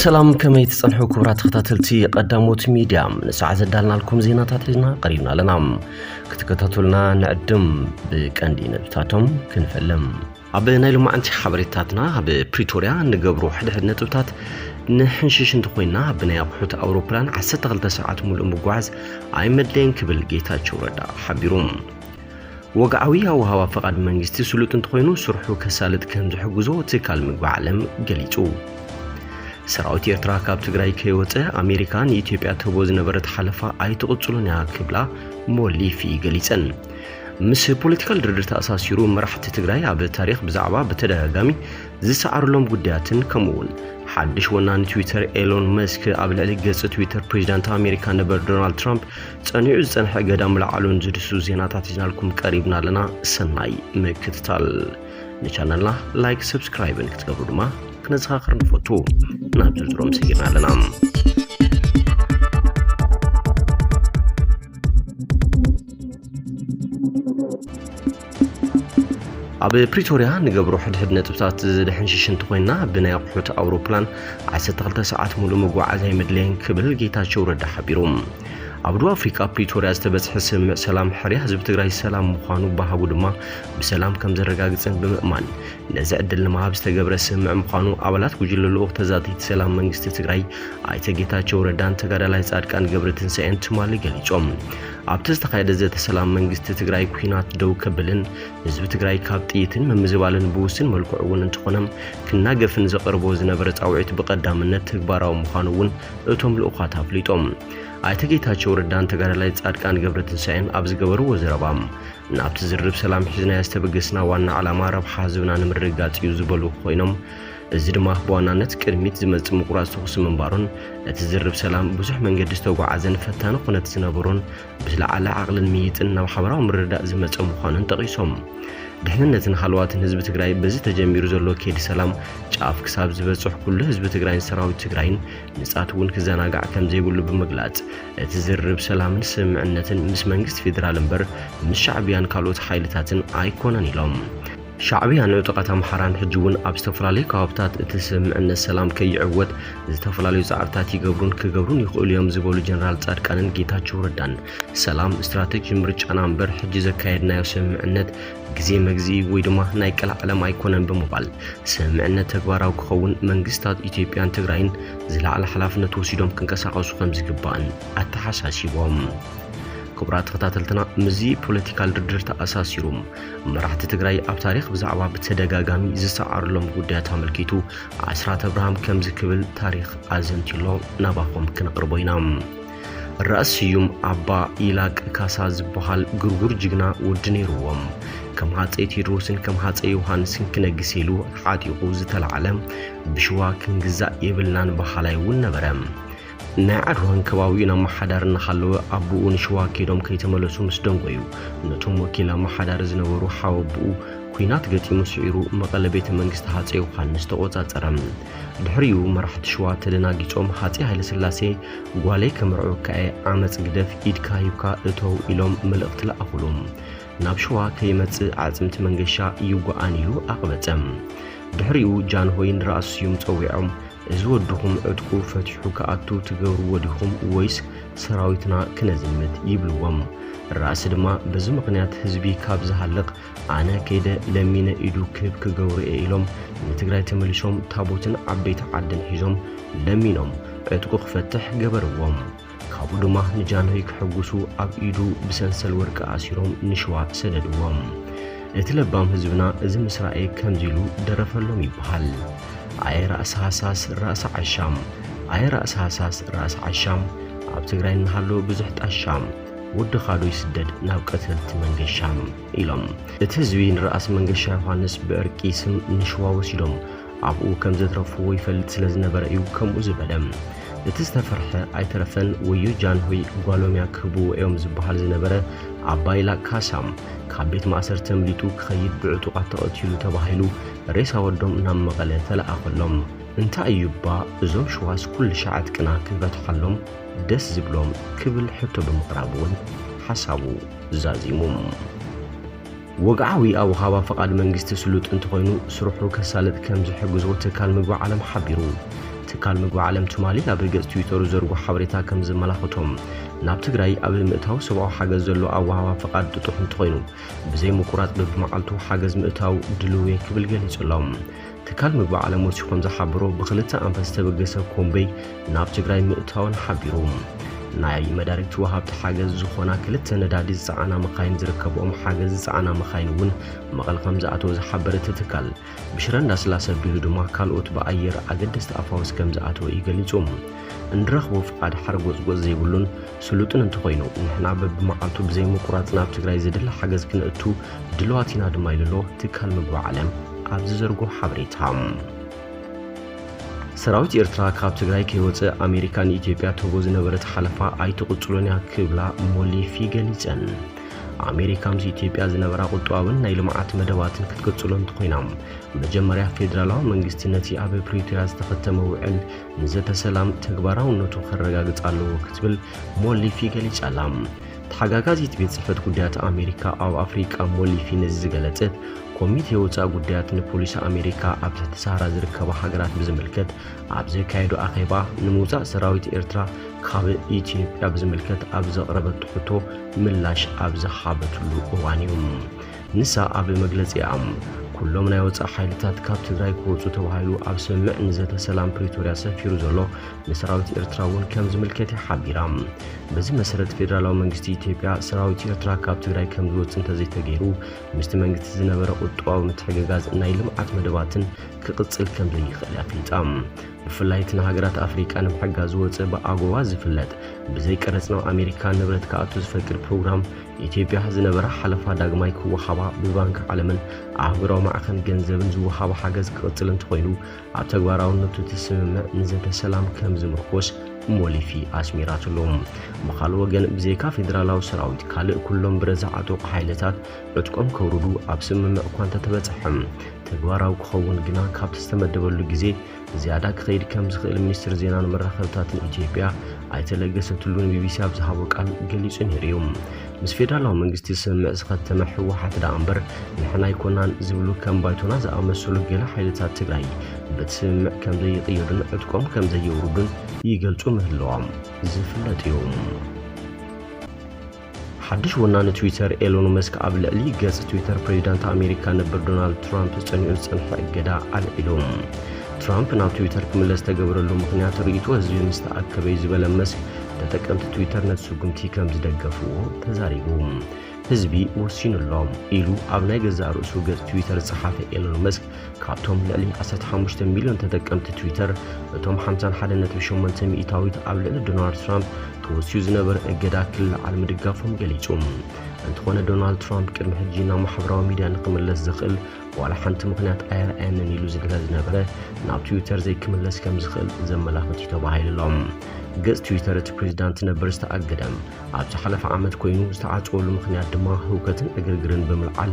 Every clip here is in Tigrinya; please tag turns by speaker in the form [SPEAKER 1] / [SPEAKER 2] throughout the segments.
[SPEAKER 1] ሰላም ከመይ ትጸንሑ ክቡራት ተኸታተልቲ ቀዳሞት ሚድያ ንሳዕ ዘዳልናልኩም ዜናታት ሒዝና ቀሪብና ኣለና ክትከታተሉና ንዕድም ብቀንዲ ነጥብታቶም ክንፈልም ኣብ ናይ ሎማዕንቲ ሓበሬታትና ኣብ ፕሪቶርያ እንገብሮ ሕድሕድ ነጥብታት ንሕንሽሽ እንተኾይንና ብናይ ኣቑሑት ኣውሮፕላን 12 ሰዓት ሙሉእ ምጓዓዝ ኣይመድለየን ክብል ጌታቸው ረዳ ሓቢሩ። ወግዓዊ ኣወሃባ ፈቓድ መንግስቲ ስሉጥ እንተኾይኑ ስርሑ ከሳልጥ ከም ዝሕግዞ ትካል ምግቢ ዓለም ገሊጹ። ሰራዊት ኤርትራ ካብ ትግራይ ከይወፀ ኣሜሪካ ንኢትዮጵያ ትህቦ ዝነበረት ሓለፋ ኣይትቕጽሉን እያ ክብላ ሞሊፊ ገሊፀን። ምስ ፖለቲካል ድርድር ተኣሳሲሩ መራሕቲ ትግራይ ኣብ ታሪኽ ብዛዕባ ብተደጋጋሚ ዝሰዓርሎም ጉዳያትን ከምኡ እውን ሓድሽ ወናኒ ትዊተር ኤሎን መስክ ኣብ ልዕሊ ገጽ ትዊተር ፕሬዚዳንት ኣሜሪካ ነበር ዶናልድ ትራምፕ ጸኒዑ ዝጸንሐ እገዳ ምልዓሉን ዝድሱ ዜናታት ሒዝናልኩም ቀሪብና ኣለና። ሰናይ ምክትታል። ንቻነልና ላይክ፣ ሰብስክራይብን ክትገብሩ ድማ ክነዘኻኽር ንፈቱ። ናብ ዝርዝሮም ሰጊርና ኣለና። ኣብ ፕሪቶርያ ንገብሮ ሕድሕድ ነጥብታት ዝድሕን ሽሽንቲ ኮይና ብናይ ኣቑሑት ኣውሮፕላን 12 ሰዓት ሙሉእ መጓዓዝ ኣይመድለየን ክብል ጌታቸው ረዳ ሓቢሩ። ኣብ ደቡብ ኣፍሪካ ፕሪቶርያ ዝተበፅሐ ስምምዕ ሰላም ሕርያ ህዝቢ ትግራይ ሰላም ምዃኑ ባህጉ ድማ ብሰላም ከም ዘረጋግፅን ብምእማን ነዚ ዕድል ንምሃብ ዝተገብረ ስምምዕ ምዃኑ ኣባላት ጉጅለ ልኡኽ ተዛተይቲ ሰላም መንግስቲ ትግራይ ኣይተ ጌታቸው ረዳን ተጋዳላይ ፃድቃን ገብረ ትንሳኤን ትማሊ ገሊፆም። ኣብቲ ዝተኻየደ ዘተ ሰላም መንግስቲ ትግራይ ኩናት ደው ከብልን ህዝቢ ትግራይ ካብ ጥይትን ምምዝባልን ብውስን መልክዑ እውን እንተኾነ ክናገፍን ዘቐርቦ ዝነበረ ፃውዒት ብቐዳምነት ተግባራዊ ምዃኑ እውን እቶም ልኡኻት ኣፍሊጦም። ኣይተ ጌታቸው ረዳን ተጋዳላይ ፃድቃን ገብረትንሳኤን ኣብ ዝገበርዎ ዘረባ ናብቲ ዝርርብ ሰላም ሒዝናዮ ዝተበገስና ዋና ዕላማ ረብሓ ህዝብና ንምርግጋፅ እዩ ዝበሉ ኮይኖም እዚ ድማ ብዋናነት ቅድሚት ዝመጽእ ምቁራጽ ተኹሲ ምንባሩን እቲ ዝርብ ሰላም ብዙሕ መንገዲ ዝተጓዓዘን ፈታኒ ኩነት ዝነበሮን ብዝለዓለ ዓቕልን ምይይጥን ናብ ሓበራዊ ምርድዳእ ዝመጸ ምዃኑን ጠቒሶም። ድሕንነትን ሃለዋትን ህዝቢ ትግራይ በዚ ተጀሚሩ ዘሎ ከይዲ ሰላም ጫፍ ክሳብ ዝበጽሕ ኩሉ ህዝቢ ትግራይን ሰራዊት ትግራይን ንጻት እውን ክዘናጋዕ ከምዘይብሉ ብምግላጽ እቲ ዝርብ ሰላምን ስምምዕነትን ምስ መንግስቲ ፌዴራል እምበር ምስ ሻዕቢያን ካልኦት ሓይልታትን ኣይኮነን ኢሎም። ሻዕብያ ንዕጡቓት ኣምሓራን ሕጂ'ውን ኣብ ዝተፈላለዩ ከባብታት እቲ ስምምዕነት ሰላም ከይዕወት ዝተፈላለዩ ጻዕርታት ይገብሩን ክገብሩን ይኽእሉ እዮም ዝበሉ ጀነራል ጻድቃንን ጌታቸው ረዳን ሰላም ስትራቴጂ ምርጫና እምበር ሕጂ ዘካየድናዮ ስምምዕነት ግዜ መግዝኢ ወይ ድማ ናይ ቀላዓለም ኣይኮነን ብምባል ስምምዕነት ተግባራዊ ክኸውን መንግስታት ኢትዮጵያን ትግራይን ዝለዓለ ሓላፍነት ወሲዶም ክንቀሳቐሱ ከም ዝግባእን ኣተሓሳሲቦም። ክቡራት ተኸታተልትና ምስዚ ፖለቲካል ድርድር ተኣሳሲሩ መራሕቲ ትግራይ ኣብ ታሪኽ ብዛዕባ ብተደጋጋሚ ዝሰዓርሎም ጉዳያት ኣመልኪቱ ኣስራት ኣብርሃም ከምዚ ክብል ታሪኽ ኣዘንቲሎ ናባኹም ክንቕርቦ ኢና። ራእስ ስዩም ኣባ ኢላቅ ካሳ ዝበሃል ግርጉር ጅግና ወዲ ነይርዎም ከም ሃፀይ ቴድሮስን ከም ሃፀይ ዮሃንስን ክነግስ ኢሉ ዓጢቑ ዝተላዕለ ብሽዋ ክንግዛእ የብልናን በሃላይ እውን ነበረ። ናይ ዓድዋን ከባቢኡን ኣመሓዳሪ እናሃለወ ኣቦኡ ንሽዋ ከይዶም ከይተመለሱ ምስ ደንጎዩ ነቶም ወኪል ኣመሓዳሪ ዝነበሩ ሓወብኡ ኲናት ገጢሙ ስዒሩ መቐለ ቤተ መንግስቲ ሃፀይ ዮሃንስ ተቖፃፀረ። ድሕሪኡ መራሕቲ ሽዋ ተደናጊፆም ሃፀይ ሃይለስላሴ ጓለይ ከምርዐወካ እየ ዓመፅ ግደፍ ኢድካ ሂብካ እተው ኢሎም መልእኽቲ ለኣኹሉ። ናብ ሽዋ ከይመፅእ ኣዕፅምቲ መንገሻ ይጓኣን ኢሉ ኣቕበፀ። ድሕሪኡ ጃንሆይ ንራእሲ ስዩም ፀዊዖም እዚ ወድኹም ዕጥቁ ፈቲሑ ክኣቱ ትገብርዎ ዲኹም ወይስ ሰራዊትና ክነዝምት ይብልዎም። ራእሲ ድማ በዚ ምኽንያት ህዝቢ ካብ ዝሃልቕ ኣነ ከይደ ለሚነ ኢዱ ክህብ ክገብሩ እየ ኢሎም ንትግራይ ተመሊሶም ታቦትን ዓበይቲ ዓድን ሒዞም ለሚኖም ዕጥቁ ክፈትሕ ገበርዎም። ካብኡ ድማ ንጃንሆይ ክሕጉሱ ኣብ ኢዱ ብሰንሰል ወርቂ ኣሲሮም ንሽዋ ሰደድዎም። እቲ ለባም ህዝብና እዚ ምስ ረኣየ ከምዚ ኢሉ ደረፈሎም ይበሃል። ኣየ ራእሲ ሃሳስ ራእሲ ዓሻም ኣየ ራእሲ ሃሳስ ራእሲ ዓሻም ኣብ ትግራይ እናሃሎ ብዙሕ ጣሻም ወድኻ ዶ ይስደድ ናብ ቀተልቲ መንገሻም ኢሎም እቲ ህዝቢ ንራእሲ መንገሻ ዮሃንስ ብዕርቂ ስም ንሽዋ ወሲዶም ኣብኡ ከም ዘትረፍዎ ይፈልጥ ስለ ዝነበረ እዩ ከምኡ ዝበለ። እቲ ዝተፈርሐ ኣይተረፈን ወዮ ጃንሆይ ጓሎምያ ክህብዎ እዮም ዝበሃል ዝነበረ ኣባይ ላቅ ካሳ ካብ ቤት ማእሰርቲ ኣምሊጡ ክኸይድ ብዕጡቓት ተቐቲሉ ተባሂሉ ሬሳ ወዶም ናብ መቐለ ተለኣኸሎም። እንታይ እዩ እባ እዞም ሽዋስ ኩልሻዕ ዕጥቅና ክንፈትሓሎም ደስ ዝብሎም ክብል ሕቶ ብምቕራብ እውን ሓሳቡ ዛዚሙ። ወግዓዊ ኣወሃባ ፍቓድ መንግስቲ ስሉጥ እንተኾይኑ ስርሑ ከሳልጥ ከም ዝሕግዞ ትካል ምግቢ ዓለም ሓቢሩ። ትካል ምግቢ ዓለም ትማሊ ኣብ ገፅ ትዊተሩ ዘርጎ ሓበሬታ ከም ዘመላኸቶ ናብ ትግራይ ኣብ ምእታው ሰብኣዊ ሓገዝ ዘሎ ኣወሃባ ፍቓድ ጥጡሕ እንተኾይኑ ብዘይ ምቁራፅ በቢመዓልቱ ሓገዝ ምእታው ድልው እየ ክብል ገሊፁ ኣሎ። ትካል ምግቢ ዓለም ወሲኹ ከም ዝሓበሮ ብክልተ ኣንፈት ዝተበገሰ ኮምበይ ናብ ትግራይ ምእታወን ሓቢሩ። ናይ መዳርግቲ ወሃብቲ ሓገዝ ዝኾና ክልተ ነዳዲ ዝፀዓና መኻይን ዝርከብኦም ሓገዝ ዝፀዓና መኻይን እውን መቐለ ከም ዝኣተወ ዝሓበረ እቲ ትካል፣ ብሽረ እንዳስላሰ ኣቢሉ ድማ ካልኦት ብኣየር ኣገደስቲ ኣፋውስ ከም ዝኣተወ እዩ ገሊፁ። እንረኽቦ ፍቓድ ሓርጎጽጎጽ ዘይብሉን ስሉጥን እንተኾይኑ ንሕና በብመዓልቱ ብዘይምቁራጽ ናብ ትግራይ ዝድለ ሓገዝ ክንእቱ ድልዋት ኢና ድማ ኢሉሎ ትካል ምግቢ ዓለም ኣብ ዝዘርጎ ሓበሬታ። ሰራዊት ኤርትራ ካብ ትግራይ ከይወፅእ ኣሜሪካ ንኢትዮጵያ ትህቦ ዝነበረት ሓለፋ ኣይትቕፅሎን እያ ክብላ ሞሊፊ ገሊፀን። ኣሜሪካ ምስ ኢትዮጵያ ዝነበራ ቁጠባዊን ናይ ልምዓት መደባትን ክትቅፅሎ እንትኾይና መጀመርያ ፌዴራላዊ መንግስቲ ነቲ ኣብ ፕሪቶሪያ ዝተኸተመ ውዕል ንዘተ ሰላም ተግባራውነቱ ከረጋግጽ ኣለዎ ክትብል ሞሊፊ ገሊጻላ። ተሓጋጋዚት ቤት ጽሕፈት ጉዳያት ኣሜሪካ ኣብ ኣፍሪቃ ሞሊፊ ነዚ ዝገለጸት፣ ኮሚቴ ወጻኢ ጉዳያት ንፖሊሲ ኣሜሪካ ኣብ ትሕቲ ሰሃራ ዝርከባ ሃገራት ብዝምልከት ኣብ ዘካየዶ ኣኼባ ንምውጻእ ሰራዊት ኤርትራ ካብ ኢትዮጵያ ብዝምልከት ኣብ ዘቕረበቶ ሕቶ ምላሽ ኣብ ዝሃበትሉ እዋን'ዩ። ንሳ ኣብ መግለጺኣ፣ ኩሎም ናይ ወጻኢ ሓይልታት ካብ ትግራይ ክወጹ ተባሂሉ ኣብ ስምምዕ ንዘተ ሰላም ፕሪቶርያ ሰፊሩ ዘሎ ንሰራዊት ኤርትራ እውን ከም ዝምልከት እያ ሓቢራ። በዚ መሰረት ፌደራላዊ መንግስቲ ኢትዮጵያ ሰራዊት ኤርትራ ካብ ትግራይ ከም ዝወጽእ እንተዘይተገይሩ ምስቲ መንግስቲ ዝነበረ ቁጠባዊ ምትሕግጋዝ ናይ ልምዓት መደባትን ክቕጽል ከም ዘይኽእል ኣፍሊጣ። ብፍላይ እቲ ንሃገራት ኣፍሪቃ ንምሕጋዝ ዝወጽእ ብኣጎዋ ዝፍለጥ ብዘይ ቀረጽ ናብ ኣሜሪካ ንብረት ክኣቱ ዝፈቅድ ፕሮግራም ኢትዮጵያ ዝነበራ ሓለፋ ዳግማይ ክወሃባ ብባንኪ ዓለምን ኣህጉራዊ ማዕኸን ገንዘብን ዝወሃባ ሓገዝ ክቕጽል እንተኾይኑ ኣብ ተግባራውነቱ እቲ ስምምዕ ንዘተ ሰላም ከም ዝምርኮስ ሞሊፊ ኣስሚራትሎም ብካልእ ወገን ብዘይካ ፌደራላዊ ሰራዊት ካልእ ኩሎም ብረዛዓጠቑ ሓይልታት ዕጥቆም ከውርዱ ኣብ ስምምዕ እኳ እንተተበጽሐ፣ ተግባራዊ ክኸውን ግና ካብቲ ዝተመደበሉ ግዜ ዝያዳ ክኸይድ ከም ዝኽእል ሚኒስትሪ ዜናን መራኸብታትን ኢትዮጵያ ኣይተ ለገሰ ቱሉ ንቢቢሲ ኣብ ዝሃቦ ቃል ገሊጹ ነይሩ እዩ። ምስ ፌደራላዊ መንግስቲ ስምምዕ ዝኸተመ ህወሓት ደኣ እምበር ንሕና ኣይኮናን ዝብሉ ከም ባይቶና ዝኣመሰሉ ገለ ሓይልታት ትግራይ በቲ ስምምዕ ከም ዘይቕየዱን ዕጥቆም ከም ዘየውርዱን ይገልጹ ምህላዎም ዝፍለጥ እዩ። ሓድሽ ወናኒ ትዊተር ኤሎን መስክ ኣብ ልዕሊ ገጽ ትዊተር ፕሬዚዳንት ኣሜሪካ ነበር ዶናልድ ትራምፕ ዝጸኒዑ ዝጸንሐ እገዳ ኣልዒሎም። ትራምፕ ናብ ትዊተር ክምለስ ዝተገበረሉ ምኽንያት ርእይቶ ህዝቢ ምስ ተኣከበዩ ዝበለ መስክ ተጠቀምቲ ትዊተር ነቲ ስጉምቲ ከም ዝደገፍዎ ተዛሪቡ። ህዝቢ ወሲኑ ኣሎ ኢሉ ኣብ ናይ ገዛእ ርእሱ ገጽ ትዊተር ዝጸሓፈ ኤሎን መስክ ካብቶም ልዕሊ ዓሰርተ ሓሙሽተ ሚልዮን ተጠቀምቲ ትዊተር፣ እቶም ሓምሳን ሓደ ነጥቢ ሸሞንተ ሚእታዊት ኣብ ልዕሊ ዶናልድ ትራምፕ ተወስዩ ዝነበረ እገዳ ክልዓል ምድጋፎም ገሊጹ። እንተኾነ ዶናልድ ትራምፕ ቅድሚ ሕጂ ናብ ማሕበራዊ ሚድያ ንክምለስ ዘኽእል ዋላ ሓንቲ ምኽንያት ኣየርኣየንን ኢሉ ስለዝነበረ ናብ ትዊተር ዘይክምለስ ከምዝኽእል ዘመላኽት እዩ ተባሂሉ ኣሎ። ገጽ ትዊተር እቲ ፕሬዚዳንት ነበር ዝተኣገደ ኣብ ዝሓለፈ ዓመት ኮይኑ ዝተዓጽወሉ ምኽንያት ድማ ህውከትን ዕግርግርን ብምልዓል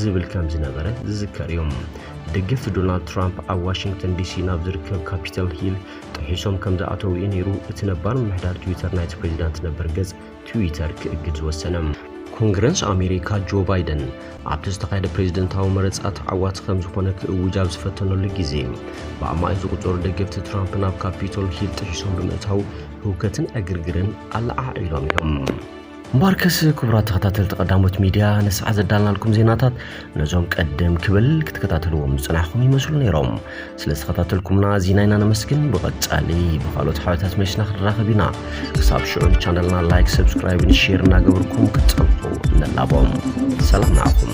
[SPEAKER 1] ዝብል ከም ዝነበረ ዝዝከር እዩ። ደገፍቲ ዶናልድ ትራምፕ ኣብ ዋሽንግተን ዲሲ ናብ ዝርከብ ካፒታል ሂል ጥሒሶም ከም ዝኣተው እዩ ነይሩ እቲ ነባር ምምሕዳር ትዊተር ናይቲ ፕሬዚዳንት ነበር ገጽ ትዊተር ክእግድ ዝወሰነ። ኮንግረስ ኣሜሪካ ጆ ባይደን ኣብቲ ዝተኻየደ ፕሬዝደንታዊ መረጻ ተዓዋቲ ከም ዝኾነ ክእውጅ ኣብ ዝፈተነሉ ግዜ ብኣማኢት ዝቑጸሩ ደገፍቲ ትራምፕ ናብ ካፒቶል ሂል ጥሒሶም ብምእታው ህውከትን ዕግርግርን ኣለዓዒሎም እዮም። እምበኣርከስ ክቡራት ተኸታተልቲ ቀዳሞት ሚድያ ንሰዓ ዘዳልናልኩም ዜናታት ነዞም ቀደም ክብል ክትከታተልዎም ዝፅናሕኹም ይመስሉ ነይሮም ስለ ዝተኸታተልኩምና ኣዚና ኢና ነመስግን ብቐፃሊ ብካልኦት ሓበታት መሊስና ክንራኸብ ኢና ክሳብ ሽዑ ንቻነልና ላይክ ሰብስክራይብን ሼር እናገበርኩም ክትፀንሑ ንላቦም ሰላም ንዓኹም